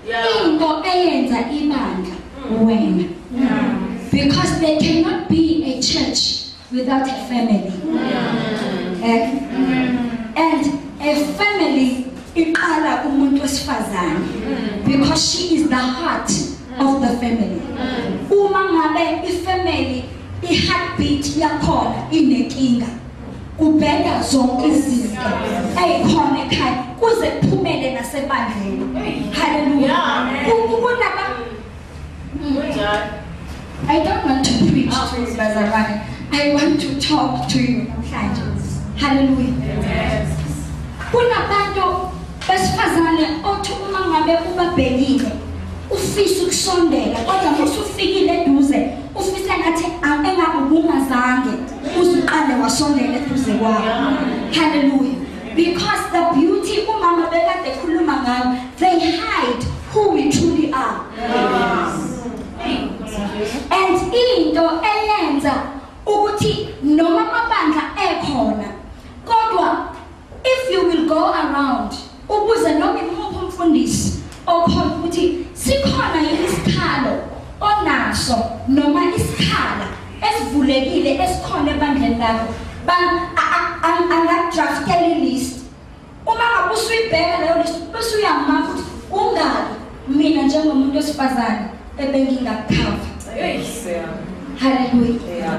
into eyenza ibandla wena because there cannot be a church without a family eh? and a family iqala kumuntu wesifazane because she is the heart of the family uma ngabe ifamily i-heartbeat yakhona inenkinga kubheda zonke izinto eyikhona ekhaya kuze kuphumele nasebandleni haleluya kunaba I don't want to preach to you bazalwane I want to talk to you namhlanje haleluya kunabantu besifazane othi uma ngabe ubabhekile ufisa ukusondela kodwa musufikile eduze ufisa ngathi engakubungazange uzuqale wasondela eduze kwabo haleluya because the beauty umama bekade ekhuluma ngayo they hide who we truly are and into eyenza ukuthi noma amabandla ekhona kodwa If you will go around ubuze noma imuphi umfundisi okhona ukuthi sikhona yini isikhalo onaso noma isikhala esivulekile esikhona ebandleni lakho angadraftela ilist uma ngabe usuyibheka leyo list bese uyamaka ukuthi ungaki mina njengomuntu wesifazane ebengingakukhava haleluya